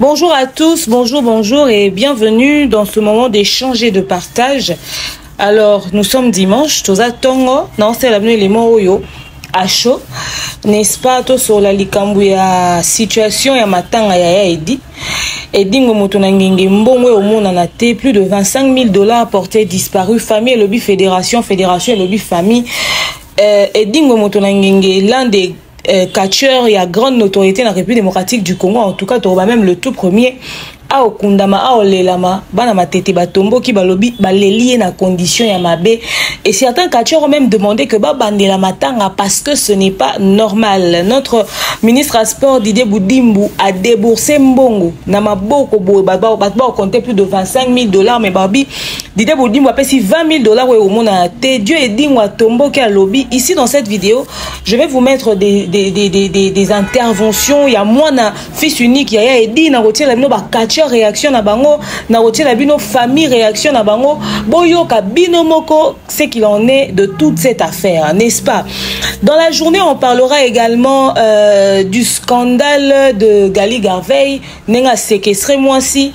Bonjour à tous, bonjour, bonjour et bienvenue dans ce moment d'échange et de partage. Alors, nous sommes dimanche, Toza Tongo, non, c'est l'avenue les Moroyo, à chaud, n'est-ce pas, tout sur la likambu ya situation ya matanga ya ya edi. Edingo Motona Ngenge Mbongwe au monde en a plus de 25 000 dollars portés disparus, famille, lobby, fédération, fédération, lobby, famille. Euh, Edingo Motona Ngenge, l'un des euh, catcheur ya grande notoriété na république démocratique du congo en tout cas tokoba même le tout premier aokundama aolelama bana matete batomboki balobi baleli ye na condition ya mabe et certains catcheurs ont même demandé que babandela matanga parce que ce n'est pas normal notre ministre ya sport didier budimbu a déboursé mbongo na maboko boye bato baocompte plus de 25 000 dollars mais babi didier budimbu apesi 20 000 dollars oyo omonana te dieu edingo atomboki alobi ici dans cette vidéo je vais vous mettre des, des, des, des, des, des interventions ya mwana fils unique yaya edi nakotiela bino bacatcher réaction na bango nakotiela bino famille réaction na bango boyoka bino moko ce qu'il en est de toute cette affaire n'est-ce pas dans la journée on parlera également euh, du scandale de gali garveil ndenge asekestre mwasi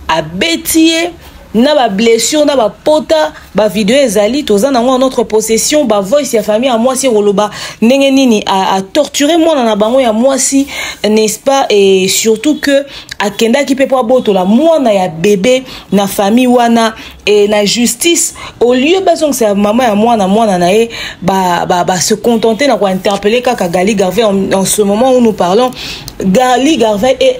abeti ye na ba blessure na ba pota ba video ezali toza nango en notre possession ba voice ya famille ya mwasi ekoloba ndenge nini a, a torturer mwana na bango ya mwasi n'est-ce pas et surtout que akendaki mpe mpo abotola mwana ya bebe na famille wana e na justice au lieu bazongisa mama ya mwana mwana na ye ba, ba, ba se contenter na kointerpelle kaka gali garvey en, en ce moment où nous parlons gali garvey est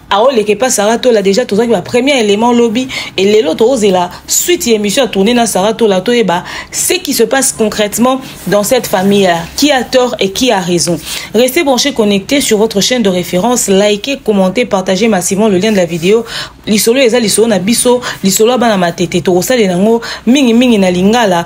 aoleka epa sara tola déjà tozalaki ba premier élément lobi e lelo tozela suite ya émission ya tourne na sara tola toyeba ce qui se passe concrètement dans cette famille là qui a tort et qui a raison restez branchés connectés sur votre chaîne de référence likez commentez partagez massivement le lien de la vidéo lisolo eza lisolo na biso lisolo ya bana matete tokosalela yango mingimingi na lingala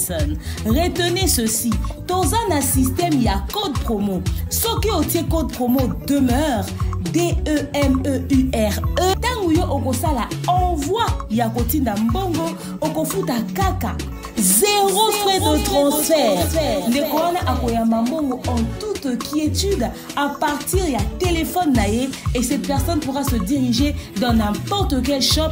personne. Retenez ceci, toza na système ya code promo. Soki otie code promo demeure DEMEURE e. ntango yo okosala envoi ya kotinda mbongo okofuta kaka zero frais de transfert ndeko wana akoyamba mbongo en toute quiétude à partir ya téléphone na ye et cette personne pourra se diriger dans n'importe quel shop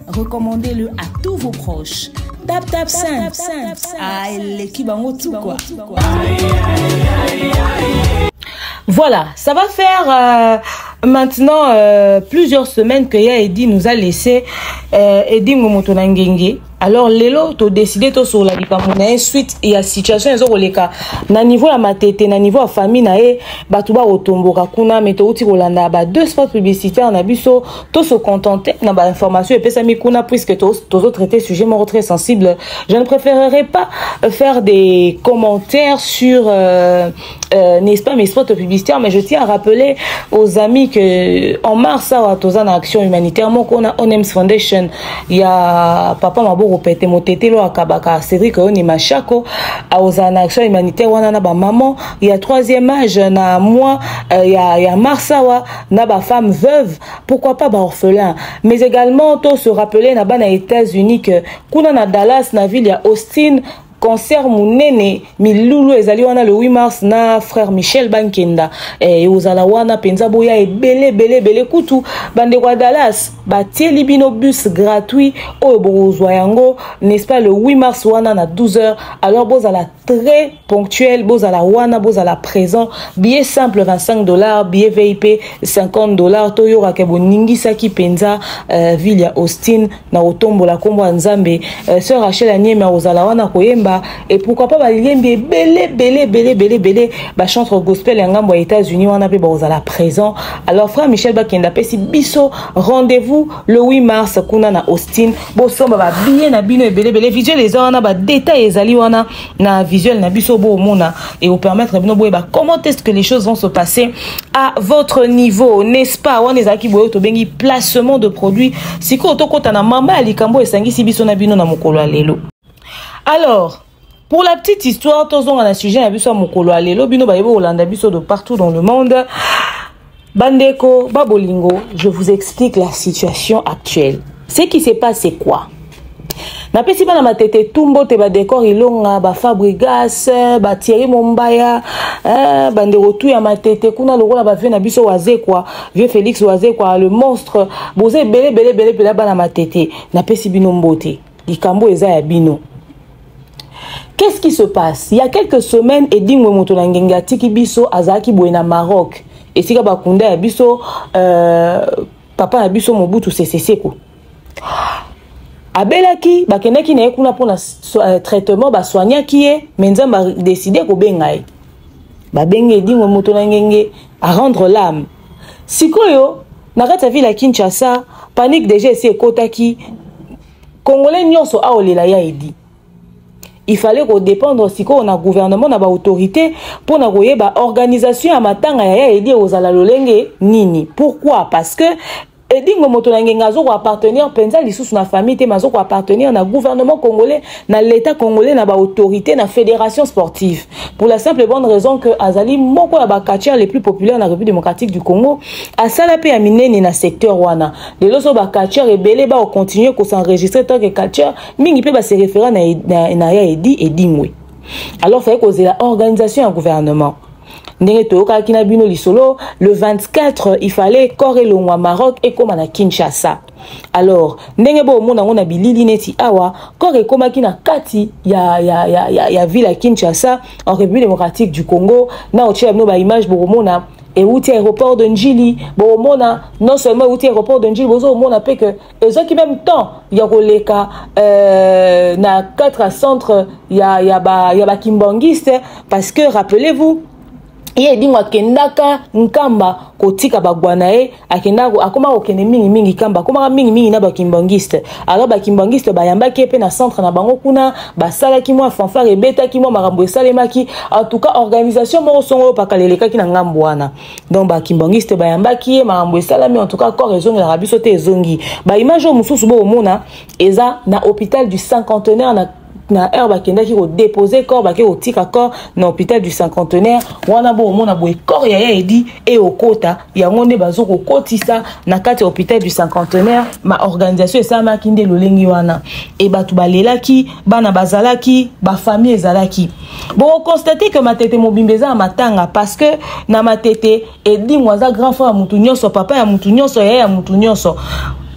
Recommandez-le à tous vos proches. Tap tap simple. Ah, eleki bango tout quoi. Voilà, ça va faire euh, maintenant euh, plusieurs semaines que Ya Eddy nous a laissé euh, Eddy Ngomoto na Ngenge. Alors lelo to décidé to sur la likambo na ye suite ya situation ezo koleka na niveau ya matete na niveau ya famille na ye bato bakotomboka kuna me touti kolanda ba deux spots publicitaire na biso to se contenter na ba information epesami kuna puisque tozo traiter sujet moko très sensible je ne préférerais pas euh, faire des commentaires sur euh, euh, n'est-ce pas mes spots publicitaires mais je tiens à rappeler aux amis que en mars awa toza na action humanitaire moko na onems foundation ya papa maboko pete motetelo akabaka cédric oyoni mashako aozala na action humanitaire wana na bamaman ya troisième âge na mois euh, ya, ya mars awa na ba femme veuve pourquoi pas ba orphelin mais également to se rappeler na bana États-Unis que kuna na Dallas na ville ya Austin concert munene milulu ezali wana le 8 mars na frère michel bankenda eh, ekozala eh, wana mpenza boya ebele ebele ebele kutu bandeko ya dallas batieli bino bus gratuit oyo bokozwa yango n'est-ce pas le 8 mars wana na 12 heures alors bozala très ponctuel bozala wana bozala présent billet simple 25 dollars billet vip 50 dollars toyokaka boningisaki mpenza euh, ville ya austin na kotombola nkombo ya nzambe euh, sœur rachel anieme akozala wana koyemba et pourquoi pas balembi ebele ebele ebele ebele ebele bachantre gospel ya ngambo ya états-unis wana mpe bakozala présent alors frère michel bakenda apesi biso rendez-vous le 8 mars kuna na austin bosomba babiye na bino ebelebele visuel eza wana badetail ezali wana na visuel na biso boomona ekopermettre bino boyeba comment est ce que les choses vont se passer à votre niveau n'est-ce pas wana ezalaki boye tobengi placement de produit sikoyo tokɔta na mama ya likambo esangisi biso na bino na mokolo ya lelo alors Pour la petite histoire, tozonga na sujet na biso ya mokolo ya lelo bino bayebi kolanda biso de partout dans le monde. Bandeko, babolingo, je vous explique la situation actuelle. Ce qui se passe, c'est quoi napesi bana matete tumbo te badekor ilonga bafabrigas batieri mombaya eh, bandeko tu ya matete kuna lokola bavie na biso wazekwa vieux félix wazekwa le monstre boza ebele ebele ebele mpela bana matete napesi bino mbote likambo eza ya bino qu'est-ce qui se passe il y a quelques semaines edingwe moto na ngenge atiki biso azalaki boye na maroc esika bakunda ya biso euh, papa na biso mobutu seseseko abelaki bakendaki na ye kuna mpona euh, traitement basoignaki ye me nzambe adeside kobenga ye babengi edingwe moto na ngenge arendre lame sikoyo na kati ya ville ya kinshasa panique deja esi ekotaki congolais nyonso aolela ya edi il fallait kodépendre sikoyo na gouvernement na baautorité mpo na koyeba organisation ya matanga ya ya edi ekozala lolenge nini pourquoi parce que edingo moto na ngenga azo koappartenir mpenza lisusu na famille te mazo koappartenir na gouvernement congolais na l'état congolais na baautorité na fédération sportive pour la simple bonne raison que azali moko ya bacatcher les plus populaire na république démocratique du congo asala mpe ya minene na secteur wana lelo so bacatcher ebele baocontinue kosenregistre tant que catcher mingi mpe base référa na, na, na ya edi edingwe alors fai kozela organisation ya gouvernement ndenge toyokaki na bino lisolo le 24 il fallait corps elongwa maroc ekóma na kinshasa alors ndenge boomona yango na bilili neti awa corps ekomaki na kati ya, ya, ya, ya, ya ville ya kinshasa en république démocratique du congo na otyela bino baimage bokomona euti aéroport de njili bokomona non seulement euti aéroport de njili bozokomona mpe ke ezwaki meme temps ya koleka euh, na 4 à centre ya, ya, ba, ya bakimbanguiste parce que rappelez-vous ye edingo akendaka nkamba kotika bagwa na ye akendaka akoma kokende mingimingi nkamba akomaka mingimingi na bakimbangiste alors bakimbangiste bayambaki ye mpe na centre na bango kuna basalaki mwa fanfare ebetaki mwa makambo esalemaki en tout cas organisation moko songo oyo pakala elekaki na ngambo wana donc bakimbanguiste bayambaki ye makambo esalami en tout cas corps ezongelaka biso te ezongi baimage oyo mosusu bokomona eza na hôpital du cinquantenaire na na heure bakendaki kodepose corps bake kotika corps na hôpital du cinquantenaire wana bokomona boye corps ya ya edi eyokota yango nde bazo kokotisa na kati ya hôpital du cinquantenaire ma organisation esalamaki nde lolenge wana e bato balelaki bana bazalaki bafamille ezalaki boko constate que matete mobimba eza na matanga parce que na matete edingo aza grand frère ya mutu nyonso papa ya mutu nyonso yaya ya mutu nyonso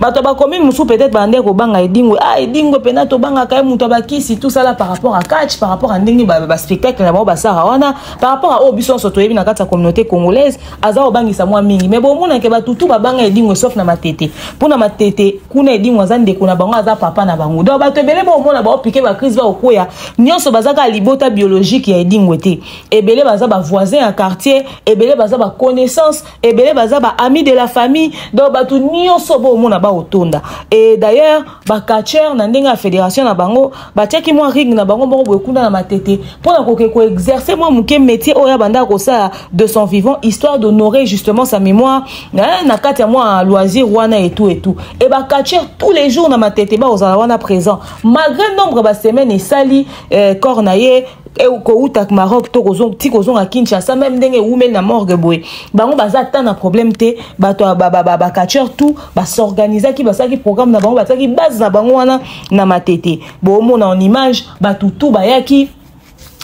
bato ya bacommune mosusu peut-être bandeki kobanga edingwe a ah, edingwe mpena tobangaka ye moto abakisi tosala par rapport à catch par rapport à ndenge baspectacle na bango basara wana par rapport à oyo biso nyonso toyebi na kati ya communauté congolaise aza kobangisa mwa mingi me bomona ke batutu babanga edingwe sauf na matete mpo na matete kuna edingwe aza ndeko na bango aza papa na bango donc bato ebele baomona baopike bacrise baokwea nyonso baza kaka libota biologique ya edingwe te ebele baza bavoisin ya quartier ebele baza baconnaissance ebele baza baami de la famille donc bato nyonso boomona baotonda e d'ailleurs bacatcheur na ndenge ya fédération na bango batiaki mwa ring na bango moko boye kuna na matete mpo na koke koexerce mwa moke métier oyo abandaka kosala de son vivant histoire d'honorer justement sa mémoire eh, na kati ya mwa loisir wana etou etou e bacatcheur tous les jours na matete bakozala wana présent malgré nombre basemaine esali eh, corps na ye kowuta maroc to ti kozonga kinshasa meme ndenge ewumeli na morgue boye bango baza ata na problème te bato bacatcheur tout basorganizaki basalaki programme na bango basalaki base na bango wana na matete boomona en image bato tu bayaki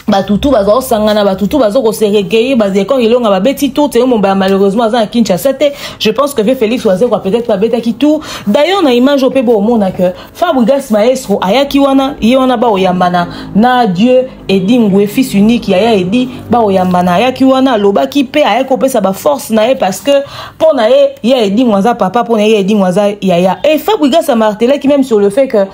bato tu baza kosangana bato tu baza kose recueillir badekor elonga babeti tour teye mombaya malheureusement aza na kinshasa te je pense que vie félix wazekwa peut-être babetaki tour d'ailleurs na image oyo mpe boomona que fabrigas maestro ayaki wana ye wana baoyambana na dieu edi ngue fils unique yaya edi bakoyambana ayaki wana alobaki mpe ayaki kopesa baforce na ye parce que mpo na ye ya edingo aza papa mpo na ye ya edingo aza yaya e fabrigas amartelaki même sur le fait que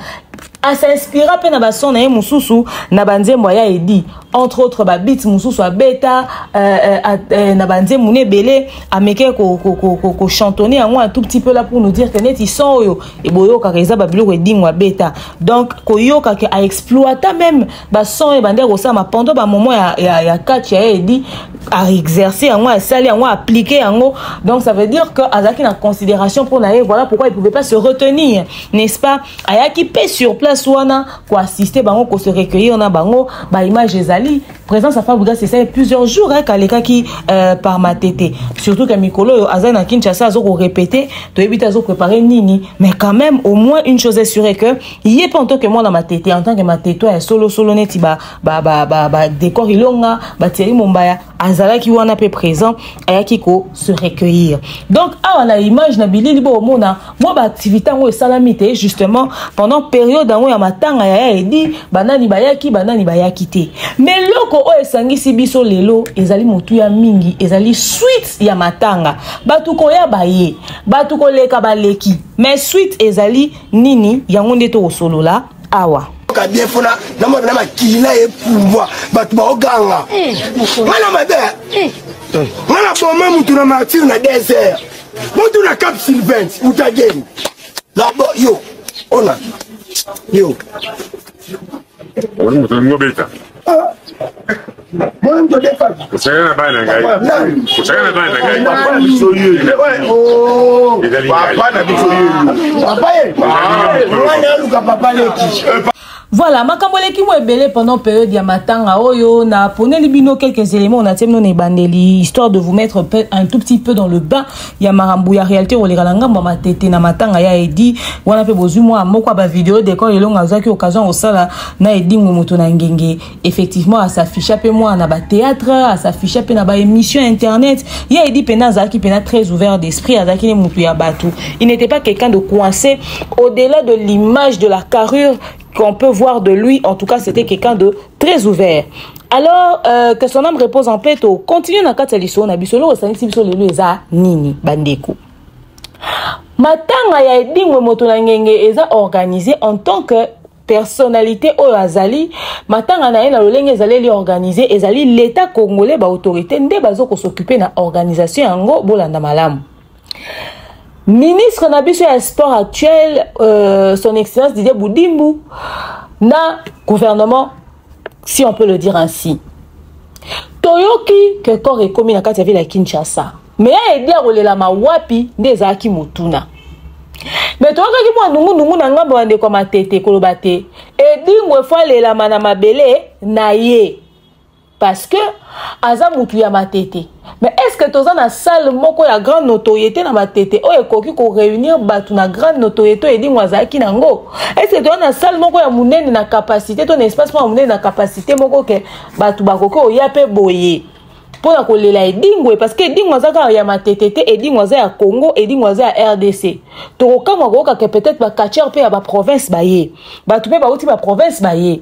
asinspira mpe na bason na ye mosusu na banzembo aya edi entre autres babit mosusu abeta euh, euh, euh, na banzembo na ebele amekee kochantonne yango un tout petit peu la pour nous dire que neti son oyo boyokaka eza babiloko edingo abeta donc koyoka ke aexploita meme bason ye bandi akosalama pendant bamoment ya, ya, ya catch ya ye edi aexerce yango asali yango aplike yango donc ça veut dire que azalaki na considération mpo na ye voilà pourquoi il pouvait pas se retenir n'est-ce pas ayaki mpe sur place wana koassiste bango kose recueillir na bango baimage ezali présence ya fabrigas esali plusieurs jours eke alekaki euh, par matete surtout ke mikolo oyo azali na kinshasa azokorepete toyebi te azoprépare nini mais quand même au moins une chose est sure que ye mpe en tant que mwana matete en tant que matete ya solosolo neti badécor ilonga batieri mombaya azalaki wana mpe présent ayaki ko se recueillir donc awa na image na bilili bokomona mwa baaktivité yango esalami te justement pendant periode yango ya matanga ya ya edi banani bayaki banani bayaki te ma eloko oyo esangisi biso lelo ezali motuya mingi ezali suite ya matanga bato koya baye bato koleka baleki mais suite ezali nini yango nde tokosolola awa oyoka bien mpo na makili na ye pumbwa bato baoganga eh, ngai na mabe eh. ngai na boma motu na martire na desert motu na cap sylvain utageni labo yo ona yo kosaka na bana na ngai kosaka na bana na ngai papa na biso yo ezali papa na biso yo papa ye wana aluka papa leki voilà makambo eleki mo ebele pendant période ya matanga oyo naponeli bino quelques éléments na tie bino na ebandeli histoire de vous mettre un tout petit peu dans le bain ya makambo ya realite koleka na ngambo ya matete na matanga ya edi wana mpe bozwi mwa moko ya bavideo decor elongo azwaki occasion kosala na edingwe moto na ngenge effectivement asafficha mpe mwana na batheatre asafficha mpe na baémission ya internet ya edi mpena azalaki mpena très ouvert d'esprit azalaki ne moto ya bato il n'était pas quelqu'un de coincé au-delà de l'image de la carrure qu'on peut voir de lui, en tout cas, c'était quelqu'un de très ouvert. Alors, euh, que son âme repose en paix, to continue na kati ya lisolo na biso, loko sanisi biso lelo eza nini bandeko. Matanga ya edingwe moto na ngenge eza organisé en tant que personnalité oyo azali matanga na ye na lolenge ezaleli organise ezali l'état congolais baautorité nde bazo kosoccupe na organisation yango bolanda malamu ministre na biso ya sport actuel euh, son excellence didier budimbu na gouvernement si on peut le dire ainsi toyoki ke corps ekomi na kati ya ville ya kinshasa me ya edi akolelama wapi nde ezalaki motuna me toyokaki mwa nungunungu na ngambo ya ndeko ya matete koloba te edingo efo alelama na mabele na ye parce que aza mutu ya matete mais est ce que toza na salle moko ya grande notoriété na matete oyo ekoki koreunir bato na grande notoriété oyo edingo azalaki na yango est ce que toza na salle moko ya monene na capacité to na espace moko ya monene na capacité moko ke bato bakoki oya mpe boye mpo na kolela edingo parce que edingo aza kaka ya matete te edingo aza ya congo edingo aza ya rdc tokokamwa koyoka ke peut-être bacatcheur mpe ya baprovince baye bato mpe bauti baprovince baye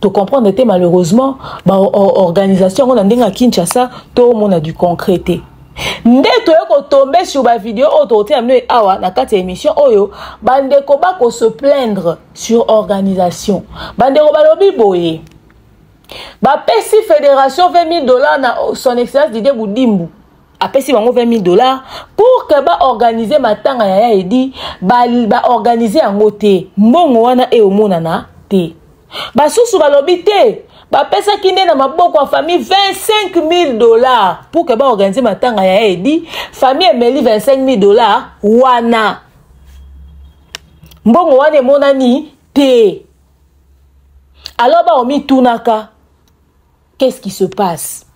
to comprendre te malheureusement ba organisation yango na ndenge ya kinshasa tomona du concret te nde toye kotombe sur bavideo oyo tokotia bino awa na kati ya émission oyo bandeko bakose plaindre sur organisation bandeko balobi boye bapesi fédération 20 000 dollars na son excellence didie budimbu apesi bango 20 000 dollars pour que baorganize matanga ya ya edi baorganize ba yango te mbongo wana eomonana te basusu balobi te bapesaki nde na maboko ya famille 25 000 dollars pour que baorganize matanga ya ya edi famille emeli 25 000 dollars wana mbongo wana emonani te alors baomitunaka qu'est-ce qui se passe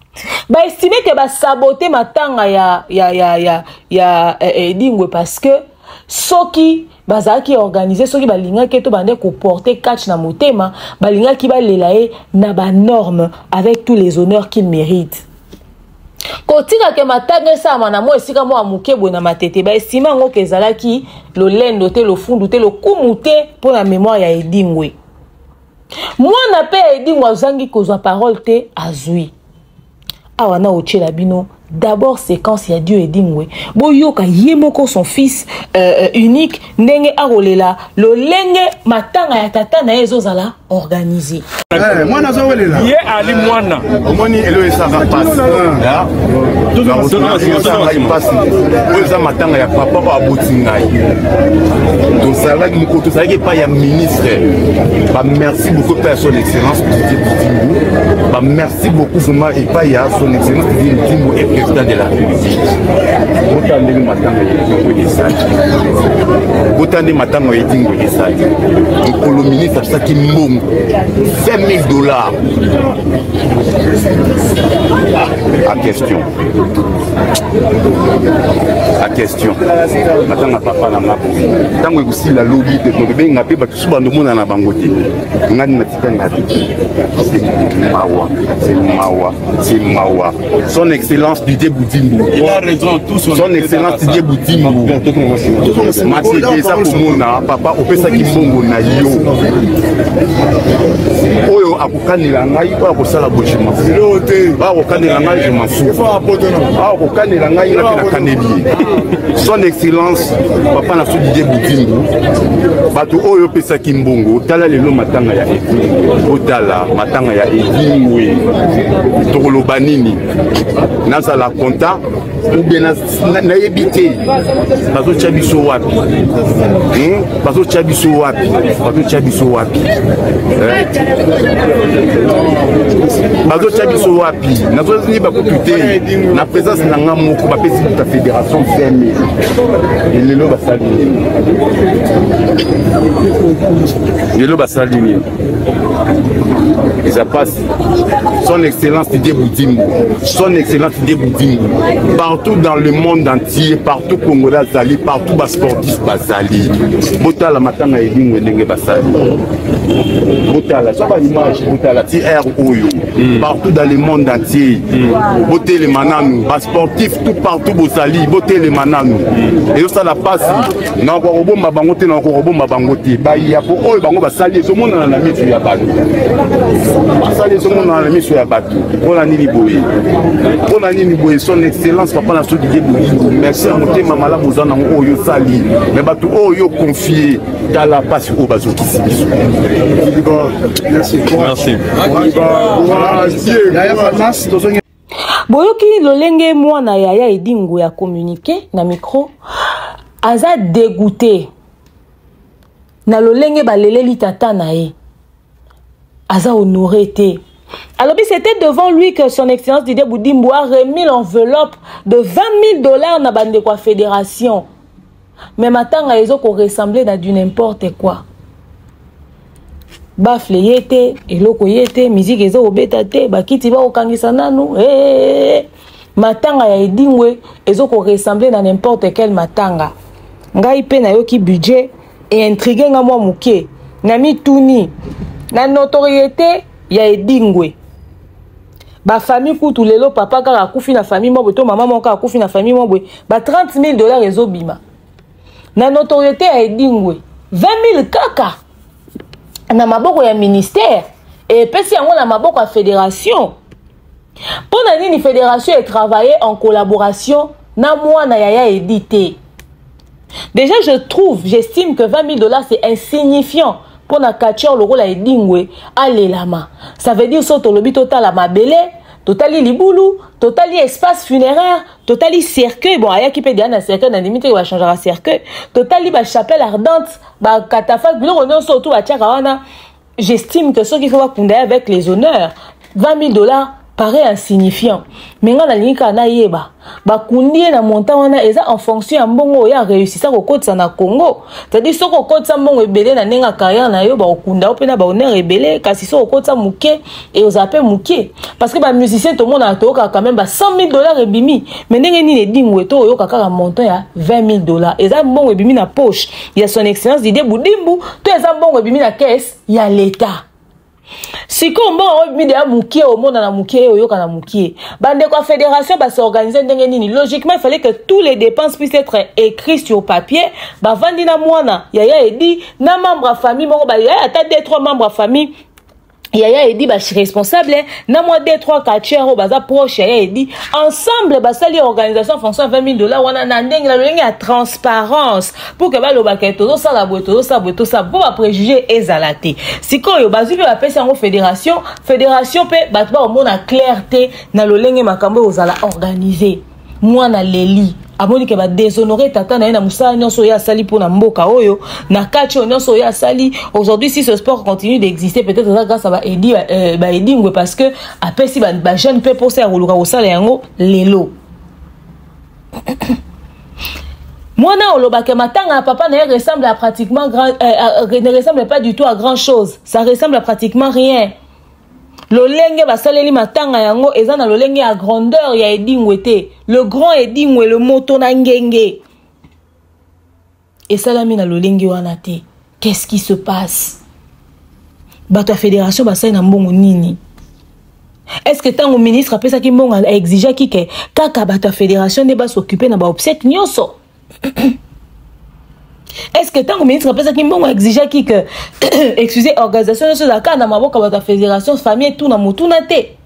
baestime ke basabote matanga ya, ya, ya, ya, ya eh, eh, edingwe parce que soki bazalaki organise soki balingaki to bande koporte catch na motema balingaki balela ye na banorme avec tous les honneurs qu'il mérite kotika ke matanga esalama na mwa esika mwa moke boye na matete baestima yango ke ezalaki lolendo te lofundu te lokumu te mpo na memoire ya edingwe mwana mpe ya edingo azangi kozwa parole te azwi awa na otyela bino d'abord séquence ya dio edingwe boyoka ye moko son fils euh, euh unique ndenge akolela lolenge matanga ya tata na ye ezozala organise eh, mwana azowelela ye ali mwana omoni elo esaka pasi ah. pasi oyo eza matanga ya papa oyo aboti ngai tozalaki mokolo tozalaki epai ya ministre frère ba merci beaucoup epai ya son excellence didier bitimbu ba merci beaucoup vraiment epai ya son excellence didier bitimbu et président de la république bota ndenge matanga etingo esali bota nde matanga etingo esali mokolo ministre apesaki mbongo 20 000 dollars à question a question natanga papa na nga boye ntango ekosila lobi te tokobenga mpe bato su bando omonana bango te ngani natika nga te mawa se mawa se mawa son excellence didie budimbu son excellence didie budimbu matete eza komona papa opesaki mbongo na yo oyo kokanela ngai oyo akosala boye je mafu oyo akokanela ngai je mafu oyo akokanela ngai ngai mpe nakaneli ye son excellence papa na so didie budimbu bato oyo opesaki mbongo tala lelo matanga ya edingwe otala matanga ya edingwe tokoloba nini nazala conta ou bien nayebi te bazotya biso wapi hmm? bazotya biso wapi bazotya biso wapi eh? bazotya biso wapi nazozini bakutu te na présence na nga moko bapesi buta fédération 20 000 lelo basali nini lelo basali nini eza pasi son excellence didier budimbu son excellence didier budimbu partout dans le monde entier partout congolais azali partout basportif bazali botala matanga ya elingwe ndenge basali botala so baimage botala ti r oyo hmm. partout dans le monde entier hmm. botelema nanu basportif tout partout bozali botelema nanu hmm. ezosala pasi nakoka kobomba bango te nakoka kobomba bango te baya po oyo bango basali ezomonana na miso ya bato basali ezomonana na miso ya bato mpona nini boye mpona nini boye son excellence papa na soki ye boyingo merci ya motema malamu oza nango oyo osali me bato oyo yo confie tala mpasi oyo bazokisi biso merci merci boyoki lolenge mwana yaya edingo ya communiqué na micro aza degoute na lolenge baleleli tata na ye aza honore te alobi c'était devant lui que son excellence didier boudimbo a remis l'enveloppe de 20 000 dollars na bandeko ya fédération mais matanga ezo ko ressembler na du n'importe quoi bafle ye te eloko ye te miziki eza kobeta te bakiti bakokangisa nanu hey, eh, eh, hey, eh, matanga ya edingwe ezo ko ressembler na n'importe quel matanga ngai mpe nayoki budget eintrigue nga mwa moke na mituni na notoriete ya edingwe ba famille kutu lelo papa kaka akufi na famille moko to mama moko akufi na famille moko ba 30 000 dollars ezobima na notoriété ya edingwe 20 000 kaka na maboko ya ministère epesi yango na maboko ya fédération mpo na nini fédération etravaille en collaboration na mwana yaya edi te Déjà, je trouve, j'estime que 20 000 dollars, c'est insignifiant pour un catcheur lokola edingwe alelama ça veut dire so tolobi totala mabele totali libulu totali espace funéraire totali cercueil bon ayaki mpe deya na cercueil na ndimi te bachangaka cercueil totali bachapelle ardente bacatafalque biloko nyonso otu batiaka wana j'estime que soki faut bakunda ye avec les honneurs 20 000 dollars paraît insignifiant me ngai nalingi kaka nayeba bakundi ye na montant wana eza en fonction ya mbongo oyo areusisa kokotisa na congo cetadire soki okotisa mbongo ebele na ndenge ya carrière na yo bakokunda yo mpe na bahonneur ebele kasi soki okotisa moke et aux appels mouké parce que ba musiciens tout le monde a toka quand même ba 100 000 dollars et bimi mais ndenge ni les dingwe to yo kaka un montant ya 20 000 dollars et ça bon et bimi na poche il y a son excellence Didier Boudimbu tout ça bon et bimi na caisse il y a l'état si comme bon on bimi déjà mouké au monde na mouké au yo kana mouké bande quoi fédération ba s'organiser ndenge ni logiquement il fallait que tous les dépenses puissent être écrits sur papier ba vandina mwana yaya edi na membre famille moko ba yaya ata deux trois membres famille yaya edi ba responsable na mwa d 3 catcher oyo baza proche yaya edi ensemble basali organisation fonction 20 000 dollars wana na ndenge na lolenge ya transparence pour que balobaka tozosala boye tozosala boye tosala mpo bapréjuge ezala te sikoyo bazwi mpe bapesi yango fédération fédération mpe bato bakomona claire te na lolenge makambo ekozala organise mwana aleli amoni ke badeshonore tata na ye na mosala nyonso oyo asali mpo na mboka oyo na kati oyo nyonso oyo asali aujourd'hui si ce sport continue d'exister peut-être eza grâce ya baedi euh, baedingwe parce que apesi bajeune mpe mposa ya koluka kosala yango lelo mwana olobaka matanga ya papa na ye ressemble à pratiquement grand, euh, euh, ne ressemble pas du tout à grand chose ça ressemble à pratiquement rien lolenge basaleli matanga yango eza na lolenge ya grandeur ya edingwe te le grand edingwe le moto na ngenge esalami na lolenge wana te qu'est-ce qui se passe bato ya fédération basali na mbongo nini est ce que ntango ministre apesaki mbongo aexigeaki ke kaka bato ya fédération nde basokipe na baobsèque nyonso est ce que ntango ministre apesaki mbongo exigeaki que excusez organisation nyonso ezalaka na maboko ya bato ya fédération famille tout na motuna te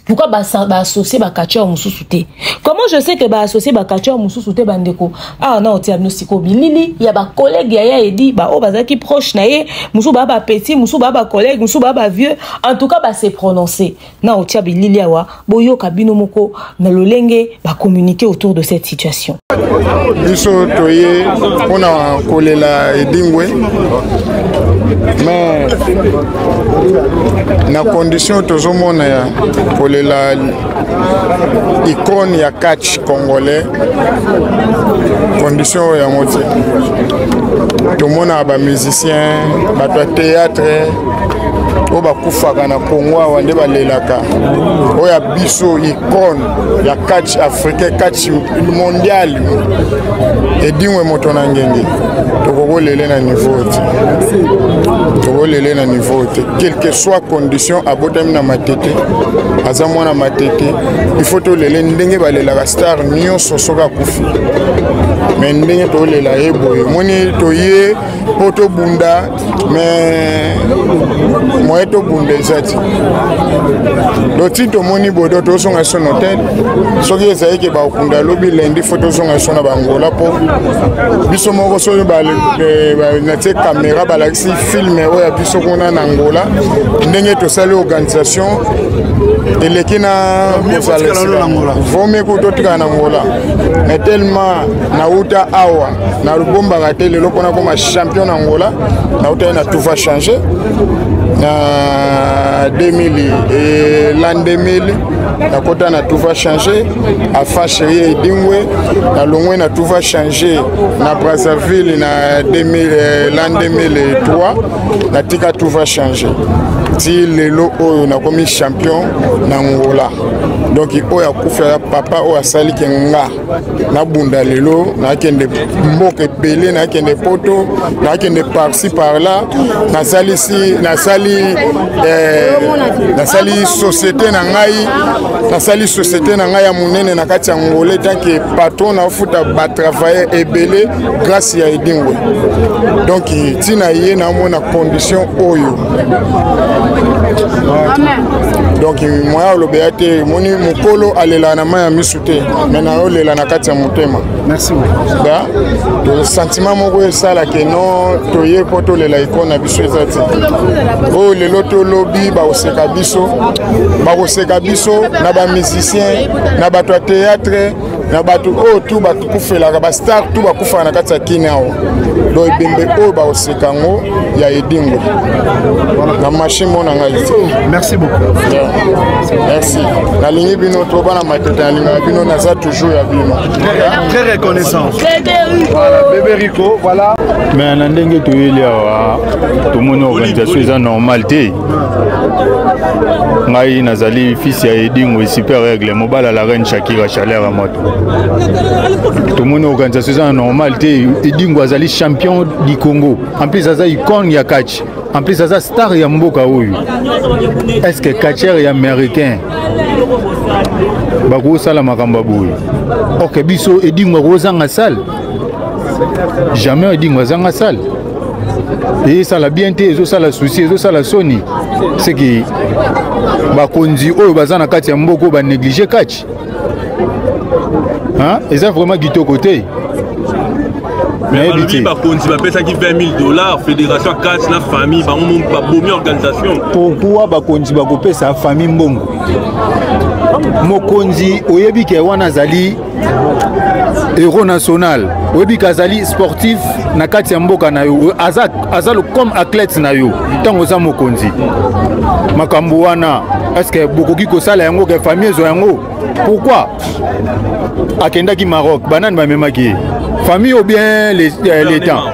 pourquoi baassocie bacatcheur mosusu te comment je sais que baassocie bacatcheur mosusu te bandeko awa ah, na otia bino sikoyo bilili ya bacollègue ya ya edi baoyo bazalaki proche na ye mosusu baa bapetit mosusu baa bacollègue mosusu baa bavieux en tout cas base prononce na otia bilili awa boyoka bino moko na lolenge bacommunike autour de cette situation biso toye mpo na kolela edingwe mais na condition tozomona ya kolela icone ya catch congolais condition oyo yango te tomonaka bamusicien bato ya théâtre oyo bakufaka na congo awa nde balelaka oyo ya biso icone ya catch africain catch mondial edingwe moto na ngenge tokokolele na niveau te tokolele na niveau te quelque soit condition abotami na matete aza mwana matete il faut tolele ndenge balelaka star nyonso soki akufi me ndenge tolela ye boye moni toye mpo tobunda mais moye tobunda eza ti do ti tomoni bodo tozonga so na hotel soki ezali ke bakunda lobi lendi fo tozonga so na bangola mpo biso moko soki eh, natie kamera balakisi filme oyo ya biso kuna na angola ndenge tosali organisation eleki na kozala vomeko totikala na angola mais tellement nauta awa nalubombaka te lelo mpona koma champion na angola nautaki na tuva change na 2000 e lan 2000 nakota na tuva change afa cherie edingwe nalongwe na tuva change na brazzaville na 2000, lan 2003 natika tuva change ti lelo oyo nakomi champion na ngola donk oyo akufa ya papa oyo asalike nga nabunda lelo nakende mboka ebele nakende poto nakende parci parla nasalisi nasali eh, nasali société na ngai nasali société na ngai ya monene na kati ya ngole tanke patron nafuta batravailleur ebele grâce ya edingwe donc ntina ye namona condition oyo donc moya olobela te moni mokolo alela na mai ya misu te me nayolela na kati ya motema da to sentiment moko esala ke no toye mpo tolela eko na biso eza te oyo lelo tolobi bakoseka biso bakoseka biso na bamusicien na bato ya théâtre na bato oyo tu batukufelaka bastar tu bakufaka na kati ya kini awa do ebembe oyo bakoseka yango ya edingo na marché mona ngai merci beaucoup merci nalingi bino to bana matete nalingaka bino naza toujours ya bino très reconnaissant voilà bebe rico voilà mais na ndenge toyeli awa tomoni organisation eza normal te ngai nazali fils ya edingo super aigle mobali ya la reine shakira chaleur ya moto tomoni organisation eza na normal te edingo azali champion du congo en plus aza icone ya catch en plus aza star ya mboka oyo est ce que catcher ya américain bakosala makambo ya boye ok biso edingo akozanga sale jamais edingo azanga sale ezosala bien te ezosala souci ezosala soni seke bakonzi oyo baza na kati ya mboka oyo banéglige kati eza vraiment kitoko te balobi bakonzi bapesaki 20000 dollars fédération catch na famille bango babomi organisation pourkui bakonzi bakopesa famille mbongo mokonzi oyebi ke wana azali héros national oyebi kazali sportif na kati ya mboka na yo aza, aza comme athlète na yo ntango oza mokonzi makambo wana estce bokoki kosala yango ke famille ezwa yango pourquoi akendaki maroc banani bamemaki ye famille ou bien l'état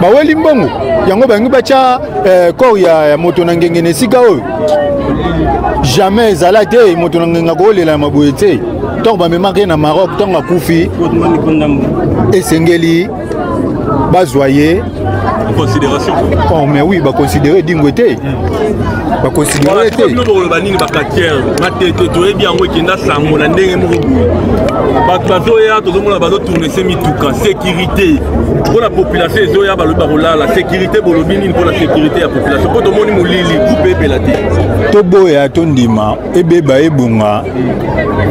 baweli mbongo yango balingi batya eh, corps ya, ya moto na ngenge na esika oyo jamais ezala te moto na ngenge akowolela ya maboye te ntango bamemaka ye na maroc ntango akufi esengeli bazwa ye considération oh mais oui baconsidere dingwe te baconsidere te bino bokoloba nini bakatiere matete toyebi yango ekenda sango na ndenge moko boye bato bazoya tozomona bazotourne se mituka sécurité te mpo na population ezoya balobi bakolala sécurité bolobi nini mpo na sécurité ya population mpo tomoni molili groupe ebela te toboya tondima ebeba ebonga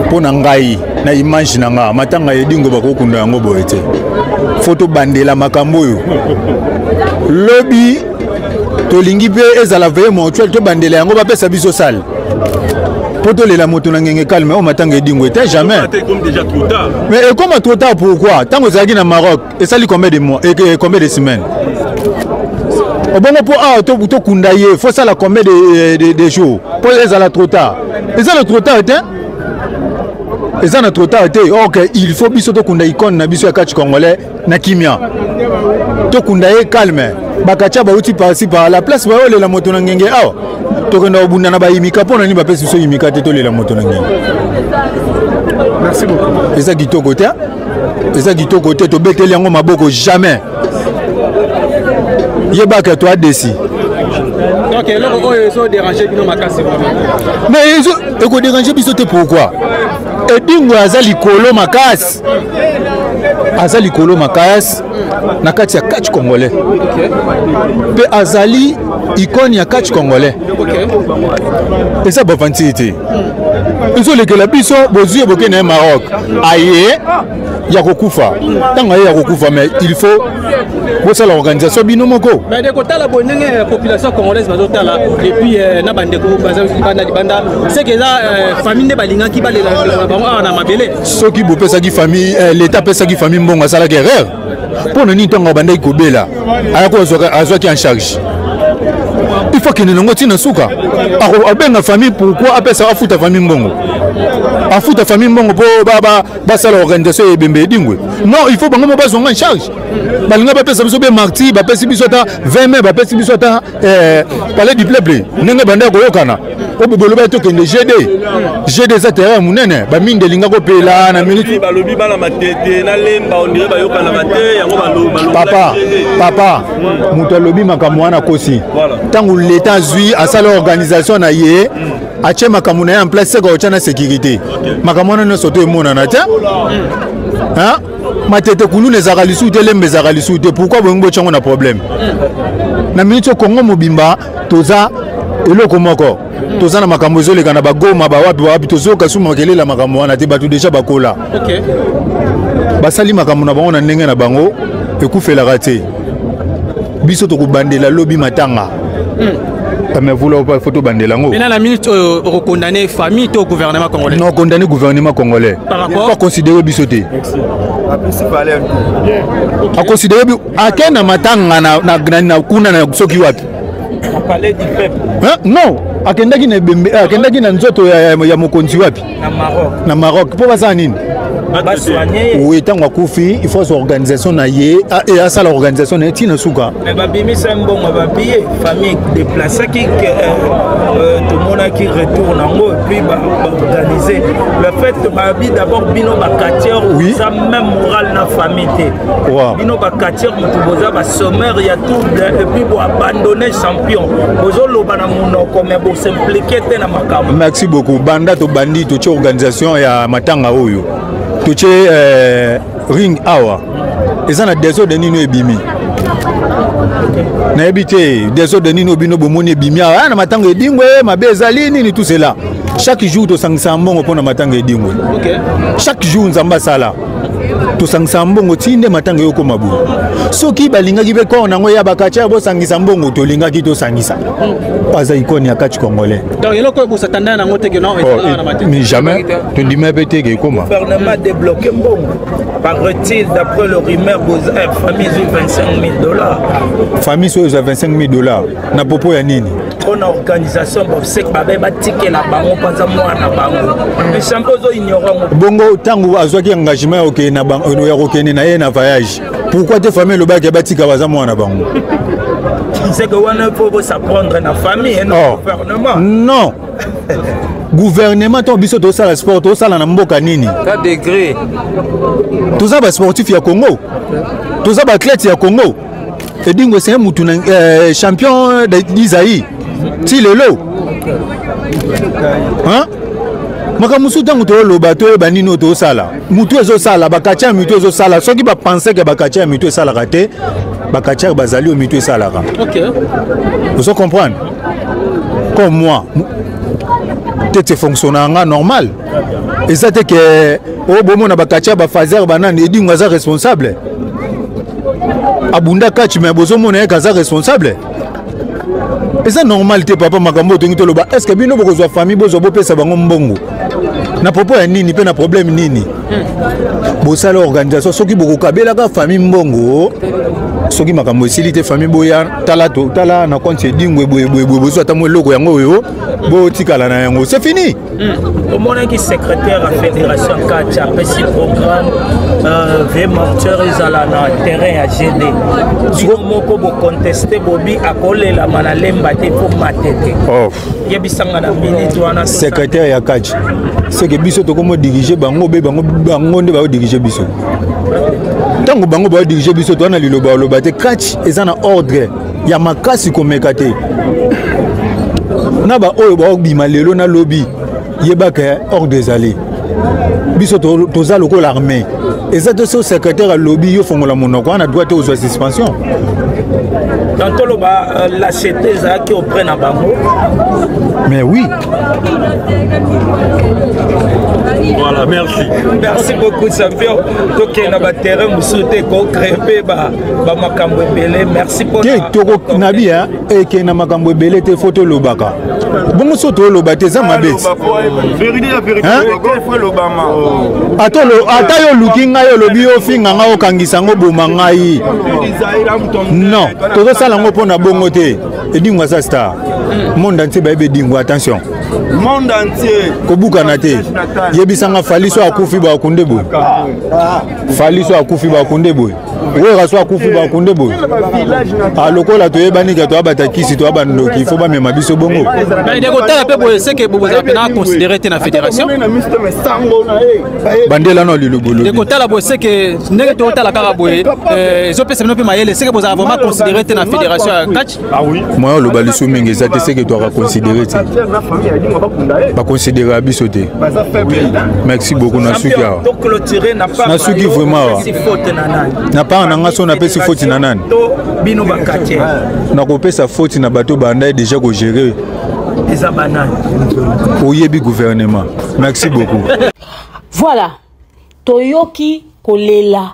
mpo na ngai na image na ngai matanga ya edingo bakokunda yango boye te fo tobandela makambo oyo lobi tolingi mpe ezala veye mortuel tobandela yango bapesa biso sale mpo tolela moto na ngenge calme oyo matanga edingo ete jamais mais ekoma trop tard pourquoi ntango ezalaki na maroc esali combien de mois et combien de semaines obongo mpo awa tokunda ye fo sala combien de, de, de jour mpo ezala trop tard eza na trop tard te eza na trop tard te ok il faut biso tokunda icone na biso ya catch congolais na kimia tokunda ye calme bakatia bauti parsi par la place bayolela moto na ngenge awa tokenda kobunda na bayimika mpo na nini bapesi biso yimika te tolela moto na ngenge eza kitoko te eza kitoko te tobeteli yango maboko jamais yebaka to adesi donc eloko oyo ezoderange bino makasi mais ekoderange biso te pourquoi edingo aza likolo makasi aza likolo makasi na kati ya catch congolais mpe azali ikone ya catch congolais eza bavantili te ezolekela biso bozwi eboke na ye maroc aye ya kokufa ntango aye ya kokufa mais il faut bosala organisation bino moko mais kotala boye ndenge euh, population congolaise bazotala epuis euh, na bandeko baza libanda libanda seke eza euh, famille nde balingaki balela bango awa na mabele soki bopesaki famille leta apesaki famille mbongo asalaki erreur mpo na nini ntango abandaki kobela ayako azwaki en charge il faut akende nango ntina suka abenga famille pourkui apesa afuta famille mbongo afuta famille mbongo mpo basala organisation ya ebembe edingwe non il faut bango mo bazwanga en charge balinga bapesa biso be marti bapesi biso ata 20 mai bapesi biso ata eh, palais du peuple ndenge banda koyokana oboloba ye tokende gd gd eza terrain ya monene bamingi elinga kopela na minute balobi bana matete na lemba ondire bayokanaka te yango papa papa moto alobi makambo wana akosi ntango leta azwi asala organisation na ye atie makambo na ye en place seka otya na sécurité makambo wana nyonso to emonana te matete kuluna ezalaka lisusu te lembe ezalaka lisusu te pourkui bolingi botya yango na problème na miniti oyo kongo mobimba toza eloko moko toza na makambo ezoleka na bagoma bawapi bawapi tozoyoka susu makelele ya makambo wana te bato deja bakola basali makambo na bango na ndenge na bango ekufelaka te biso tokobandela lobi matanga hmm. mais vous là pas faut tobandela yango maintenant la minute oyo euh, okokondane famille to gouvernement congolais non condamne gouvernement congolais par rapport pas considérer biso te aconsidere ake na matanga na kuna na soki wapi non akendaki na ebembe akendaki na nzoto ya mokonzi wapi na maroc na maroc mpo basala nini oui ntango akufi il faut azwa organisation na ye e asala organisation na ye ntina suka babimisa mbongo babiye famille déplaçaki tomonaki retour nango epuis baorganize le fait babi d'abord bino bacatier oza même moral na famille te bino bacatier motu boza basomeur ya trouble epuis boabandonne champion bozoloba na monoko me bosimplike te na makambo merci beaucoup banda tobandi totie organisation ya matanga oyo totie euh, ring awa eza na desordre nini oyo ebimi nayebi te desordre nini oyo bino bomoni ebimi awa ah, na matanga edingwe mabe ezali nini tout cela chaque jour tosangisaka mbongo mpo na matanga edingwe chaque jour nzambe asala tosangisa mbongo ti nde matanga yo okoma boye soki balingaki mpe kor nango ya bakatia bosangisa mbongo tolingaki tosangisa aza ikone ya kati congolais mais jamais tondima mpe te ekoma gouvernement débloqué mbongo paraît-il d'après le rumeur boza eh, famille ezwi 25 000 dollars famille soyo ezwa 25 000 dollars na popo ya nini mpo na organisation bobsek babe batikela bango mpanza mwana bango echampe ozo ignore yango bongo ntango azwaki engagement ya kokende na ya kokende na ye na voyage pourquoi te famille elobaki batika baza mwana bango c'est que wana faut s'apprendre na famille na oh. gouvernement non gouvernement ntango biso tosala sport tosala na mboka nini toza basportif ya congo toza baathlète ya congo edingo ese mutu na eh, champion d'isai ti lelo makambo mosusu ntango toloba toyeba nini oyo tozosala motu ezosala bakati ya mitu ezosala soki bapanseke bakati ya mitu esalaka te bakati ya bazali oyo mitu esalaka ozo comprendre comme moi tete fonctionnaka normal eza te ke oyo oh, bomona bakatia bafazer banani edingo aza responsable abunda kaci me bozomona yeke aza responsable eza normal te papa makambo oyo tongi toloba est ce que bino bokozwa famille bozwa bopesa bango mbongo na propos ya nini mpe na problème nini bosala organisation soki bokokabelaka famille mbongo soki makambo esili te famille boya tala tala na konti edingwe boyeboyeboye bozwa ata mwa eloko yango oyo botikala na yango se fini Hmm. omonaki secrétaire ya fédération kati apesi programme euh, vie morteur ezala na terrain ya gd bino moko boconteste bobi akolelama na lemba te mpo mate te oh. yebisanga na minute wana secrétaire ya kati seke biso tokomodirige bango be bango nde baodirige biso ntango bango baodirige biso towana liloba oloba te kati eza na ordre ya makasi komeka te na baoyo baobima lelo na lobi yebaka hors des allées biso toza lokola armée eza te so secrétaire alobi yo fongola monoko wana droit te ozwa suspension donc toloba euh, lachete ezalaki auprès na bango mais oui voilà merci merci beaucoup champion tokenda baterrain mosusu te kocrepe ba bamakambo ebele merci te toko nabi ya eke na makambo ebele te fo tolobaka bongo so toloba te eza mabe ata yo oluki ngai olobi yo ofinga ngai okangisa yango boma ngai non tozosala yango mpo na bongo te edingwa sa star monde entier bayebi edingwa attention monde entier kobukana te yebisanga faliso akufi bakunde boye faliso akufi bakunde boye wera so akufi bakunde boye alokola ah, toyebani ke toya batakisi toya bandoki fo bamema biso bongo kotala mpe boye seke bozala mpena considere te na fédération bandela no liloboloekotala boye seke ndenge totala kaka boye ezopesa bino mpe mayele seke bozala vraiment considere te na fédération ya catch Ah moyen oloba lisu mingi eza te seke toaka considere te baconsidera biso te merci beaucoup nasuki awa nasuki vraiment awa na part na nga so napesi foti na nani nakopesa foti na bato bandai deja kogere oyebi gouvernement merci beaucoup voilà toyoki kolela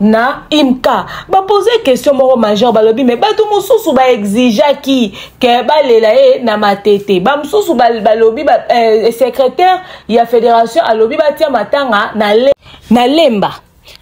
na imka bapose question moko major balobi me bato mosusu baexigeaki ke balela ye na matete bamosusu balobi ba, eh, secrétaire ya fédération alobi batia matanga na, le, na lemba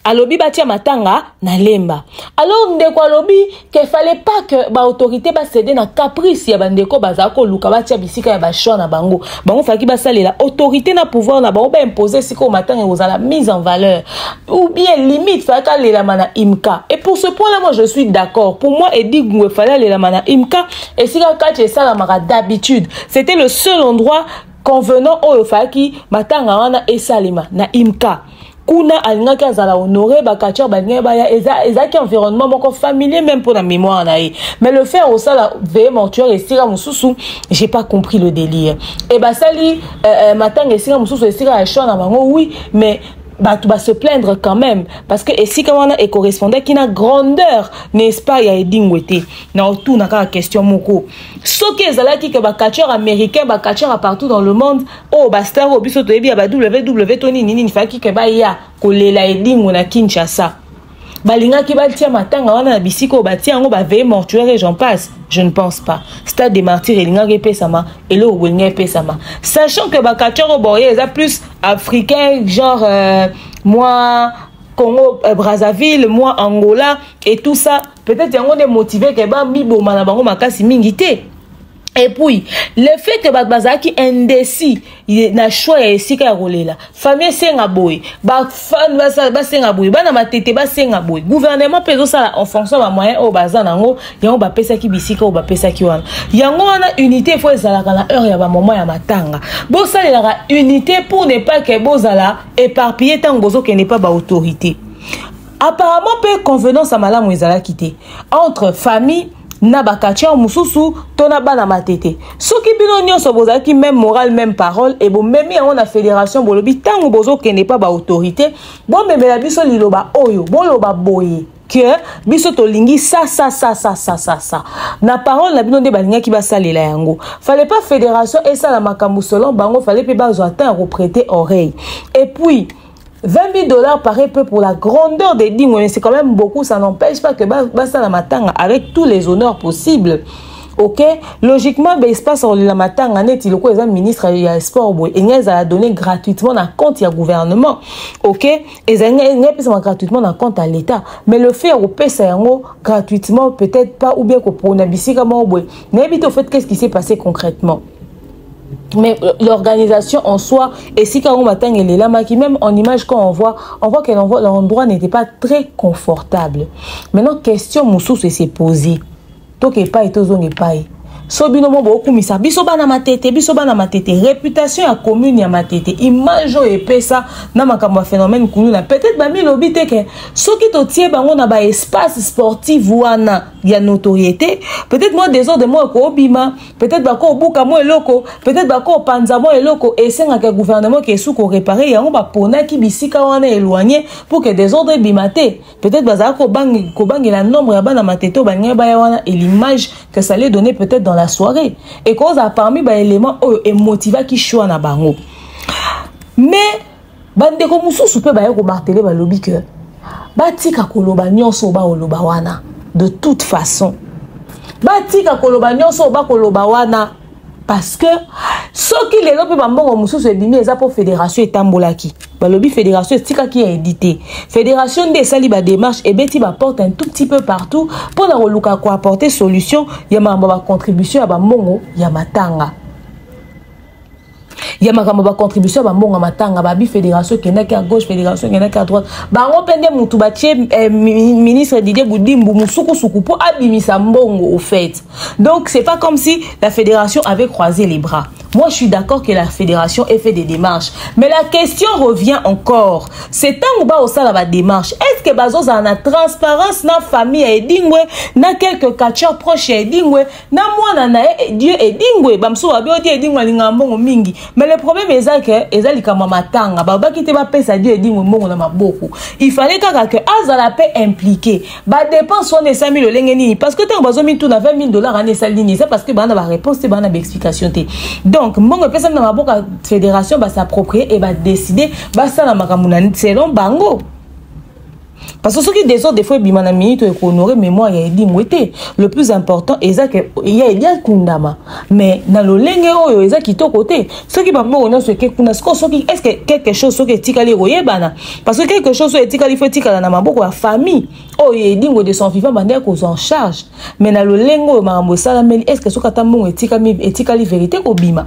alobi batia matanga na lemba alors ndeko alobi ke fallait pas que baautorité basede na caprice ya bandeko bazala koluka batya bisika ya bachoix na bango bango falaki basalela autorité na pouvoir na bango baimpose esika oyo matanga ekozala mise en valeur ou bien limite falaki alelama na imka et pour ce point là moi je suis d'accord pour moi edigwe fallait alelama na imka esika kati esalamaka d'habitude c'était le seul endroit convenant oyo falaki matanga wana esalema na imka kuna alingaki azala honore bacatcheur balingaki baya ezalaki environnement moko familier même mpo na mémoire na ye mais le fait osala veye mortuaire esika mosusu j'ai pas compris le délire e basali euh, euh, matanga esika mosusu esika ya chant na bango oui mais bato base plaindre quand même parce que esika wana ecorrespondaki na grandeur n'est-ce pas ya edingwe te na otuna kaka question moko soki ezalaki ke bacatcheur américain bacatcheur ya partout dans le monde oyo bastar oyo biso toyebi ya ba ww to nini nini faki ke baya kolela edingo na kinshasa balingaki batia matanga wana na bisika oyo batia yango baveye mortuaire et j'en passe je ne pense pas stade de martyr elingaki epesama eloko bolinga epesama sachant que bacatcheur oyo boye eza plus africain genre euh, mwa congo euh, brazzaville mwa angola et tout ça peut-être yango nde motive ke bamiboma na bango makasi mingi te et puis le fait que bato bazalaki indécis na choix ya esika ya kolela famille esenga boye bafan basenga boye bana matete basenga boye gouvernement mpe ezosala en fonction ba moyen oyo baza na yango yango bapesaki bisika oyo bapesaki wana yango wana unité efo ezalaka na heure ya bamoment ya matanga bosalelaka unité pour ne pas ke bozala éparpillé ntango bozokende mpa baautorité apparemment mpe convenance ya malamu ezalaki te entre famille na bakatiere mosusu to na bana matete soki bino nyonso bozalaki meme morale meme parole e bomemi yango na fédération bolobi ntango bozokende mpa baautorité bomemela biso liloba oyo boloba boye ke biso tolingi sa sa sa sa sa sa sa na parole na bino nde balingaki basalela yango fale mpa fédération esala makambo selon bango fale mpe bazwa temps ya koprete oreille epuis 20 000 dollars paraît peu pour la grandeur des dîmes, mais c'est quand même beaucoup. Ça n'empêche pas que Basta la Matanga, avec tous les honneurs possibles, ok logiquement ben, espace la matanga neti loko eza ministre ya sport boye enga ezala donné gratuitement na compte ya gouvernement ok ezali enga epesama gratuitement na compte ya l'état mais le fait ya kopesa yango gratuitement peut-être pas ou bien kopona bisika moko boye nayebi te au fait qu'est ce qui s'est passé concrètement mais euh, l'organisation en soi esika yango matanga elelamaki même en image quand on voit on voit que l'endroit n'était pas très confortable maintenant question mosusu ese posé toka epai tozonga epai so bino mo bokumisa biso bana matete biso bana matete réputation ya commune ya matete image oyo epesa na makambo ya phénomène kuluna peut-être bamilobi te ke soki totie bango na baespace sportive wana ya notoriété peut-être mwa desordre moko ekobima peut-être bako obuka mwa eloko peut-être bako opanza mwa eloko esengaka ya gouvernement ke esu korepare yango baponaki bisika wana éloigné pour que desordre ebima te peut-être bazala kobangela nombre ya bana matete oyo balingaki baya wana et l'image que ça allait donner peut-être dans la soirée ekozala parmi baélément oyo emotivaki choix na bango mais bandeko mosusu mpe baye komartele balobi ke batika koloba nyonso bakoloba wana de toute façon batika koloba nyonso bakoloba wana parce que soki lelo mpe bambongo mosusu ebimi eza mpo fédération etambolaki balobi fédération etikaki ya edi te fédération nde esali bademarche ebeti baporte un tout petit peu partout mpo na koluka koapporte solution ya makambo ya bacontribution ya bambongo ya matanga ya makambo bacontribution ya bambongo ya matanga babi fédération ekendaki ya gauche fédération ekendaki ya droite bango mpe nde motu batie eh, ministre didier budimbu mosukusuku mpo abimisa mbongo au fait donc c'est pas comme si la fédération avait croisé les bras Moi, je suis d'accord que la fédération ait fait des démarches. Mais la question revient encore. C'est tant ou bas au sein de la démarche. Est-ce que Bazos a la transparence dans la famille à Edingwe, dans quelques catcheurs proches à Edingwe, na mwana na ye eh, dieu edingwe bamosusu babi odi edingwe alingaka mbongo mingi mais le problème eza ke eza likambo ya matanga balobaki te bapesa dieu edingwe mbongo na maboko ifallait kaka ke azala mpe impliqué badepense wana esami lolenge nini parce que ntango bazomituna 20 000 dollars wana esali nini eza parce que baa na baréponse te baa na baexplication te donc mbongo epesami na maboko ya fédération basapproprie e badeside basala makambo na selon bango parce que soki desordre efo ebima na minute oyo ekohonore mémoire ya edingwe te le plus important eza ke ya edi akundama mais na lolenge oyo eza kitoko te soki bambongo nyonso eke kuna sikoyo soki est ce que quelque chose soki etikali ekoyebana parce que quelque chose oyo etikali fo etikala na maboko ya famille oyo ya edingwe de son vivant banda ekozwa en charge mais na lolenge oyo makambo esalameli est ce que soki ata mbongo etikali verité ekobima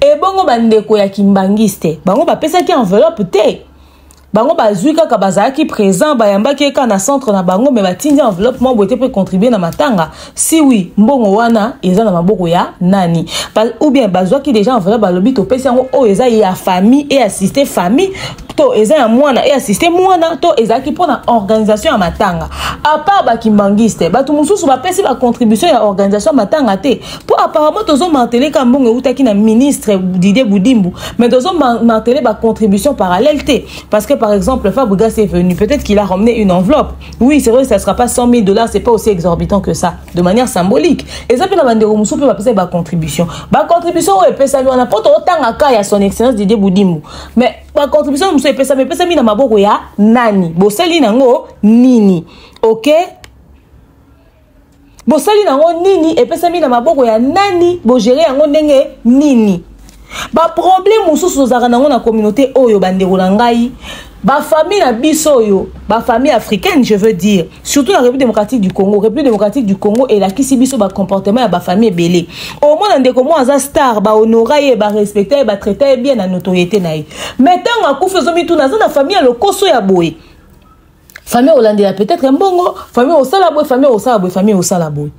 ebongo bandeko ya kimbangiste bango bapesaki enveloppe te bango bazwi kaka bazalaki présent bayambaki ye kaka na centre na bango me batindi enveloppe mwa boye te mpe contribue na matanga si wi mbongo wana eza na maboko ya nani ba, ou bien bazwaki déjà enveloppe balobi topesi yango oyo oh, eza ya famille e assiste famille to eza ya mwana e assiste mwana to ezalaki mpo na organisation ya matanga apart bakimbangiste bato mosusu bapesi bacontribution ya organisation ya matanga te mpo apparemment tozo martele ka mbongo eutaki na ministre didie budimbu mais tozo martele bacontribution parallèle te parce que par exemple fabrigas est venu peut-être qu'il a ramené une enveloppe oui c'est vrai ça sera pas 100 000 dollars c'est pas aussi exorbitant que ça de manière symbolique eza mpe na bandeko mosusu mpe bapesaki bacontribution bacontribution oyo epesami wana mpo totanga ka ya son excellence didie budimbu mais bacontribution mosusu epesami epesami na maboko ya nani bosali nango nini ok bosali nango nini epesami na maboko ya nani bogere yango ndenge nini baproblème mosusu tozalaka nango na communauté oyo bandeko na ngai bafamille na biso oyo bafamille africaine je veux dire surtout na république démocratique du congo république démocratique du congo elakisi biso bacomportement ya bafamille ebele omona ndeko moko aza star bahonora ye barespecta ye batraita ye bien na notoriété na ye mai ntango akufi ozomituna aza na famille ya lokoso ya boye famille olandela peut-être mbongo famille osala boye famille osala boye famille osala boye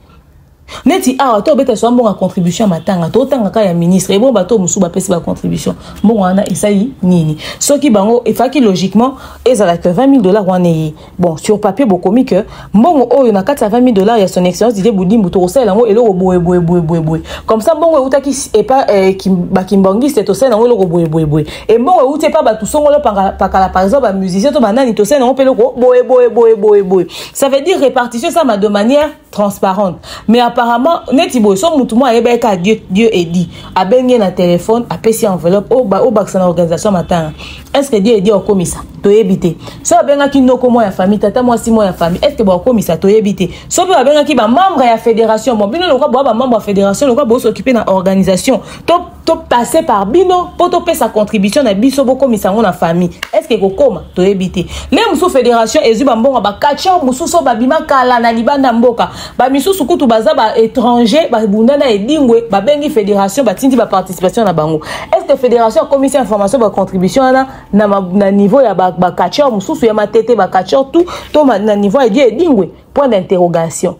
neti awa to obeta swa mbongo ya contribution ya matanga totanga kaka ya ministre ebongo bato mosusu bapesi bacontribution mbongo wana esali nini soki bango efaki logiquement ezala ke 20 000 dollars wana eye bon sur papier bokomi ke mbongo oyo na kati ya 20 000 dollars ya son excellence didie budimbu tokosalela yango eloko boyeboyeboyeboyeboye comme ça mbongo eutaki epa eh, bakimbangiste tosalela yango eloko boyeboyeboye embongo euti epa bato songolo pakala par exemple bamusicien to banani tosali nango mpe eloko boye boye boye boye boye ça veut dire répartition esama de manière transparente mais apparemment neti boye so motu moko ayebaki kaka dieu, dieu edi abengi ye na telefone apesi enveloppe obakisa na organisation matanga est ce que dieu edi akokomisa toyebi te so abengaki noko moko ya famille tata mwasi moko ya famille est ce que bakokomisa toyebi te so mpe babengaki bamembre ya fédération bon bino lokwa boya bamembre ya fédération lokwa bosokipe na organisation to to passer par bino mpo topesa contribution na biso bokomisa yango na famille estce ekokoma toyebi te le mosusu fédération ezwi bambongo bacatcheur mosusu oyo babima kala na libanda mboka bamisusu kutu baza baétranger babunda na edingwe babengi fédération batindi baparticipation na bango estce fédération akomisi information bacontribution wana na, na niveau ya bacatcheur mosusu ya matete bacatcheur tout to na niveau ya di edingwe point d'interrogation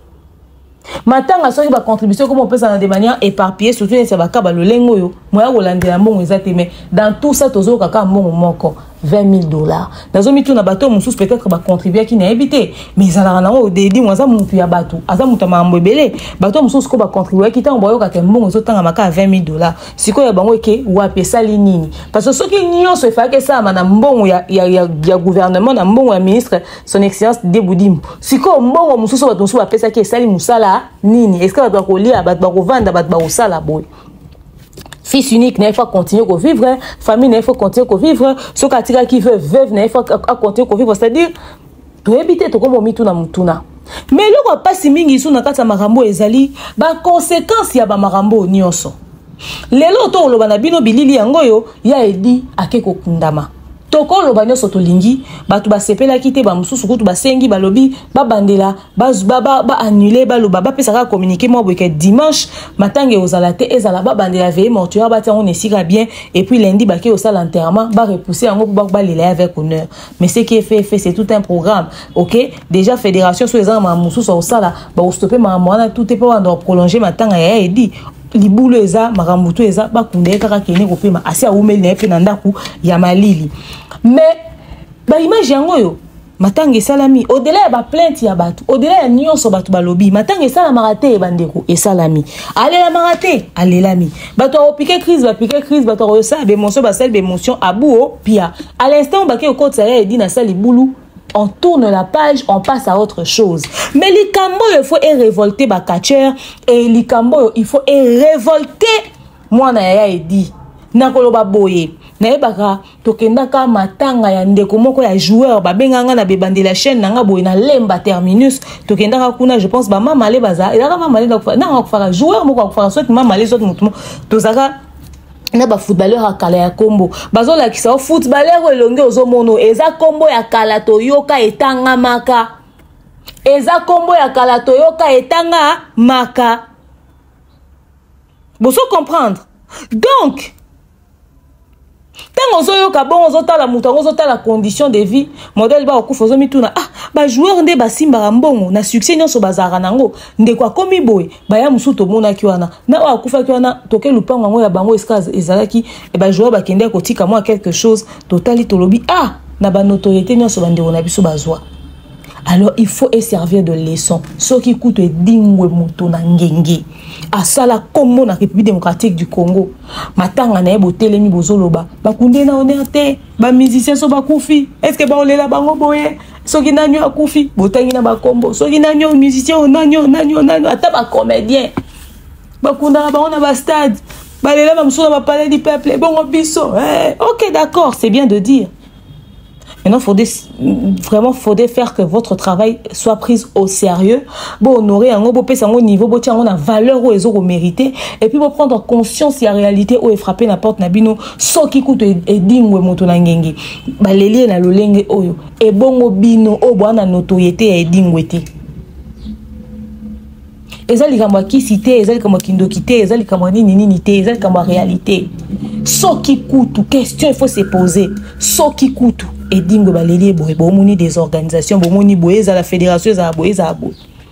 matanga soki bacontribution ekoma opesana de manière éparpillée surtout neti ya bakaba lolenge oyo moya kolandela mbongo eza te mais dans tout ça tozoyoka kaka mbongo moko 20 000 dollars nazomituna bato mosusu peut-être bacontribuaki nayebi te mais ezalaka nango dedimo aza motu ya bato aza moto ya makambo ebele bato mosusu ko bacontribuaki ntango bayoka mbongo ezotangama kaka 20 000 dollars sikoyo ya bango eke wapi esali nini parce que soki nyonso efalaki esalama na mbongo ya, ya, ya, ya gouvernement na mbongo ya ministre son excellence deboudim sikoyo mbongo mosusu bato mosusu bapesaki esali mosala nini eske bato bakolia bato bakovanda bato bakosala boye fils unique na ye faut continuer kovivre famille na ye faut continuer kovivre soki atikaki veuve veuve na ye faut acontinue kovivre c'est à dire toyebi te tokomi omituna motuna mais eloko ya mpasi mingi lisusu na kati ya makambo ezali baconséquence ya bamakambo oyo nyonso lelo to oloba na bino bilili yango oyo ya edi ake kokundama tokoloba nyonso tolingi bato basepelaki te bamosusu kutu basengi balobi babandela baannule baloba bapesa kaka communiqué mwa boyeke dimanche matanga ekozala te ezala babandela veye mortuaire batia yango na esika bien epuis lundi bake kosala enterrement barepousse yango mpo balela ye avec honneur mais seki efefe c'est tout un programme ok déjà fédération soki eza na maa mosusu akosala bakostope makambo wana tout te mpo banda koprolonge matanga ya edi libulu eza makambo to eza bakunda ye kaka kende kopema asi awumeli na ye mpe na ndako ya malili mais baimage yango oyo matanga esalami odela ya baplainte ya bato odela ya nyonso bato balobi matanga esalamaka te bandeko esalami alelamaka te alelami bato akopike crise bapike crise bato akosala bemotion basali bemotion abuo pia à l'instant bake kokotisa ya edi na sali bulu on tourne la page on passe à autre chose mais likambo oyo il faut erevolte bacatcher e likambo oyo il faut erevolte mwana yaya edi nakoloba boye nayebaka tokendaka matanga ya ndeko moko ya joueur babenga nga na bebandela chaîne na nga boye na lemba terminus tokendaka kuna je pense bamamale baza ezalaka mamale nanga akufaka joueur moko akufaka soit mamale soit motu moko tozalaka na bafootballeur ya kala ya nkombo bazolakisa o footballeur oyo elongi ozomona oyo eza nkombo ya kala toyoka etangamaka eza nkombo ya kala toyoka etanga maka bozo comprendre donc ntango ozoyoka bongo ozotala moto yango ozotala condition de vie modele bakokufa ozomituna ah bajoueur nde basimbaka mbongo na succès nyonso bazalaka nango ndeko akomi boye baya mosusu tomonaki wana na oyo akufaki wana toke lupango yango ya bango esika ezalaki eh, bajour bakendaki kotika mwa quelque chose totali tolobi ah na banotoriete nyonso bandeko na biso bazwa alors il faut eservir de leçon soki kutu edingwe moto na ngenge asala nkombo na république démocratique du congo matanga na ye botelemi bozoloba bakunde na honneur te bamusicien so bakufi estce baolela bango boye soki nani oyo akufi botangi na bakombo soki nani oyo musicien oyo nani oyo nani oyo nani ata bacomédien bakundaka bango na bastade balela bamosusu na bapalais du peuple ebongo biso eh, ok d'accord c'est bien de dire Maintenant, il faudrait, vraiment, faudrait faire que votre travail soit pris au sérieux. Bon, honorer un bon pèse un niveau, bon, tiens, on a valeur où ils ont mérité. Et puis, bon, prendre conscience de la réalité où est frappé la porte, nabino, sans qui coûte et dingue, motonangenge. baleli ye na lolenge oyo ebongo bino oyo bwana notoriete ya edingwe te eza likambo ya kisi te eza likambo ya kindoki te eza likambo ya nini nini te eza likambo ya réalité soki kutu question il faut se poser soki kutu edingwe baleli ye boye bomoni des organisations bomoni boye ezala fédération ezala boye ezala boye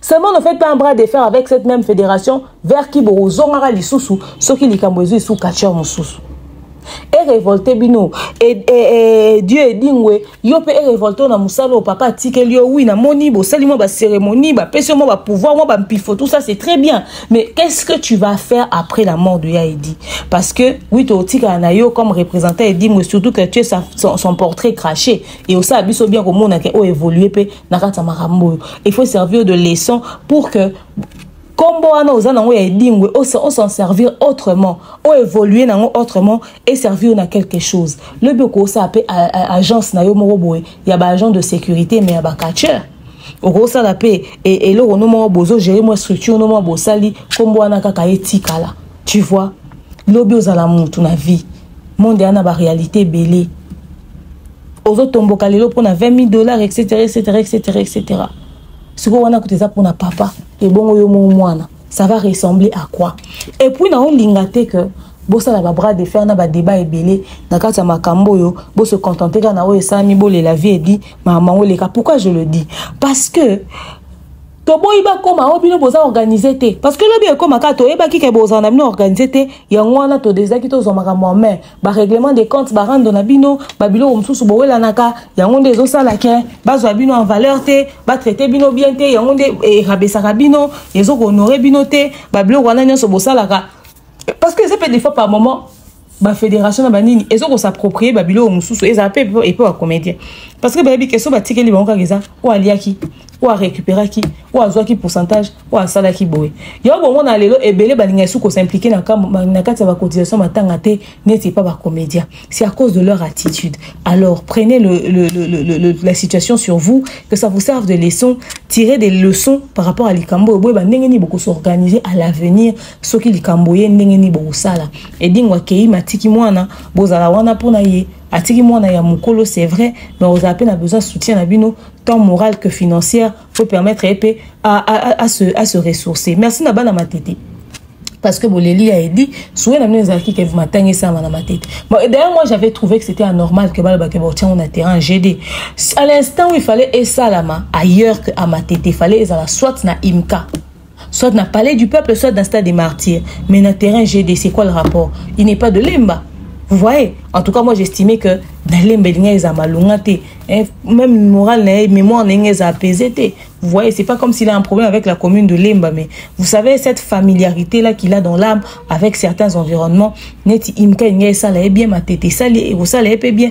Seulement ne faites pas un bras de fer avec cette même fédération vers qui bokozongaka lisusu soki likambo ezwi sous catcheur mosusu erevolte bino e, e, e, dieu edingwe yo mpe erevolte oyo na mosala oyo papa atikeli yo wi namoni bosali mwa bacérémonie bapesi yo mwa bapouvoir mwa bampifo tout ça c'est très bien mais qu'est ce que tu vas faire après la mort de ya edi parce que wi totikala na yo comme représentant edingwe surtout que tu es son, son portrait craché e osala biso bien komona ke oyo évolue mpe na kati ya makambo oyo il faut servir de leçon pour que nkombo wana oza nango ya edingwe osan servir autrement oévolue nango autrement e servir na quelque chose lobi okosala mpe agence na yo moko boye ya baagent de sécurité mais ya bacatcheur okosala mpe e, eloko no moko bozogere mwa structure no moko bosali nkombo wana kaka etikala tu vois lobi ozala mutu na vie monde wana baréalité ebele ozotomboka lelo mpona 20 000 dollars etc etc etc etc sikoyo wana kutu eza mpona papa ebongo yo mo mwana ça va ressembler à quoi et puis naolinga te que bosala babras de fer na badeba ebele na kati ya makambo oyo bose contente kaka na oyo esalami bolela vie edi makambo yango eleka pourquoi je le dis parce que toboyi bakoma oyo oh, bino boza organise te parce que lobi ekoma kaka toyebaki ke bozala na bino organise te yango wana todesaki tozwa makambo ya main ba règlement de compte ba rando na bino ba biloko mosusu bowelanaka yango nde ezosala ke bazwa bino en valeur te batraite bino bien te yango nde erabesaka bino ezokohonore bino te ba biloko wana nyonso bosalaka parce que eza mpe des fois par moment bafédération na banini eza kosapproprie babiloko mosusu ezala mpe epe bacomédien parce que bayebi ke so batikeli bango kaka eza oyo aliaki oyo arecuperaki oyo azwaki pourcentage oyo asalaki boye yango bomona lelo ebele balingaki su kosimplike na kati ya bacotisation matanga te neti epa bacomédien c'est à cause de leur attitude alors prenez le, le, le, le, la situation sur vous que ça vous serve de leçon tirer des leçons par rapport à likambo oyo boyeba ndenge nini bokosorganize à l'avenir soki likambo ye ndenge nini bokosala edingo akei matiki mwana bozala wana mpo na ye atiki mwana ya mokolo c'est vrai mais ozala mpe na besoin soutien na bino tant morale que financière faut permettre ye mpe à, à, à, se, à se ressourcer merci na bana matete parce que boleli ya edi souwe na bino ezalaki ke matanga esama na matete bon, d'ailleurs moi j'avais trouvé que c'était anormal que balobake baotiango na terrain gd à l'instant où il fallait esalama ailleurs que à matete fallait ezala soit na imka soit na palais du peuple soit na stade des martyrs mais na terrain gd c'est quoi le rapport il n'est pas de lemba vous voyez en tout cas moi j'estimais que na lemba elinga eza malonga te hein, même moral na ye mémoire na ye eza apaisé te vous voyez c'est pas comme s'il a un problème avec la commune de lemba mais vous savez cette familiarité là qu'il a dans l'âme avec certains environnements neti imka elinga esala ye bien matete esali ekosala ye mpe bien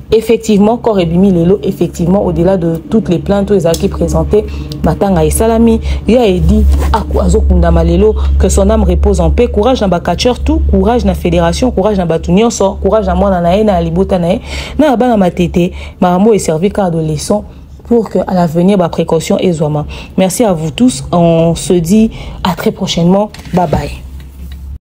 effectivement corps ebimi lelo effectivement au-delà de toutes les plaintes oyo ezalaki présentées matanga esalami ya edi azokundama lelo que son âme repose en paix courage na bacatcheur tout courage na fédération courage na bato nyonso courage na mwana na ye na libota na ye na ya bana matete makambo oyo eservi ka adolescent pour que à l'avenir ba précaution ezwama merci à vous tous on se dit à très prochainement bye bye